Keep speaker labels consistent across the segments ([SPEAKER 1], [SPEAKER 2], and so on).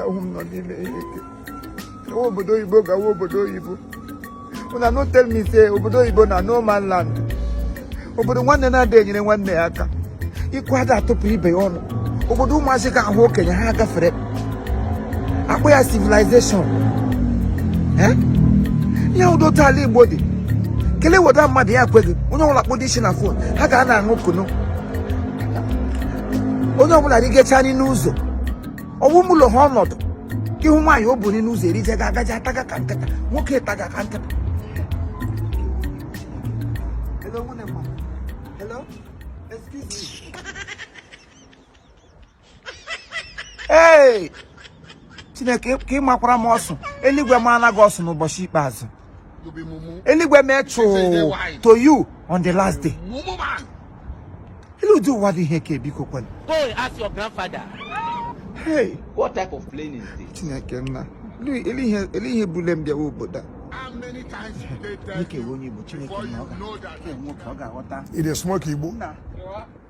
[SPEAKER 1] ahụ m nọ n'ime ihe ike gawa obodo oyibo gawa obodo oyibo una no tell me say obodo oyibo na no man land obodo nwanne na-ada enyere nwanne ya aka ikwu ada atụpụ ibe ya ọnụ obodo ụmụazị ga-ahụ okenye ha gafere akpọ ya civilization eh? ihe udo taa ala igbo dị kelee weda mmadụ ya ekweghị onye ọbụla kpọdo isi na phone ha ga na-aṅụ kunu onye ọbụla rigecha anyị n'ụzọ ọwụ m ụlọ ha ọnọdụ ị hụ nwaanyị o buri n'ụzọ erije ga agaji ataga ka nkịta nwoke taga ka nkịta Hello, Hello? Excuse me. ee chineke ka ị makwara m ọsụ eluigwe maara gị ọsụ n'ụbọchị ikpeazụ eluigwe mee chụụ to you on the last day elee ụdị ụwa dị ihe nke a biko kwenu go and ask
[SPEAKER 2] your
[SPEAKER 1] grandfather hey what type
[SPEAKER 2] of playing is this chineke
[SPEAKER 1] nna elee ihe bule m bịawa obodo a
[SPEAKER 3] dịka onye igbo chineke
[SPEAKER 1] na
[SPEAKER 3] ọ
[SPEAKER 1] ga-enwe ka ọ
[SPEAKER 3] ga-aghọta
[SPEAKER 1] ị na-esmoke igbo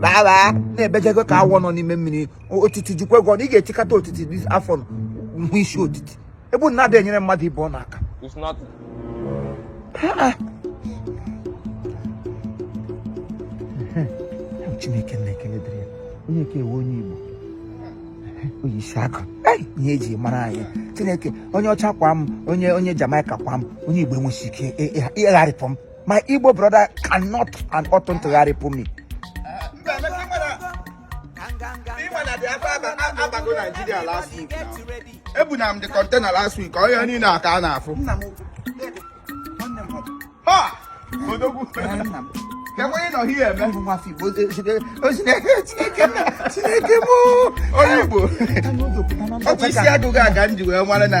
[SPEAKER 1] baa na-ebejego ka awọ nọ n'ime mmiri otiti jikwa ego na ị ga-etikata otiti afọ hụ isi otiti ebe na adị enyere mmadụ ibe ọ n'aka chineke nna ekele dịrị ya onye ka ewe onye igbo onye isi aka ihe eji mara anyị chineke onye ọcha kwa m onye onye Jamaica kwa m onye igbo enweghị ike ịgharịpụ m my igbo brother cannot and oughtn't to gharịpụ me
[SPEAKER 4] abago Nigeria last week ebuna m the container last week onye niile a ka a na-afụ odogwu onye nọ ihe eme chineke m onye Igbo ọ bụ isi agụgụ aga m ji wee mara na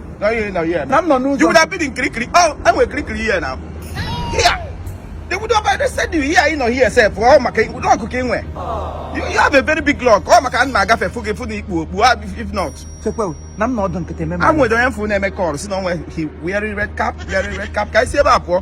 [SPEAKER 4] na m nọ n'ụzọ you would have been in kirikiri oh enwere kirikiri here now here they would have arrested you here ị nọ here sef ọ maka luck ka ị nwe you have a very big luck ọ maka m na-agafe fụ gị fụ na i kpu okpu if not chekwa na m
[SPEAKER 1] nọdụ nkịtị eme o nwere onye m fụ na-eme
[SPEAKER 4] call sị na onwe he wearing red cap wearing red cap ka anyị si ebe a pụọ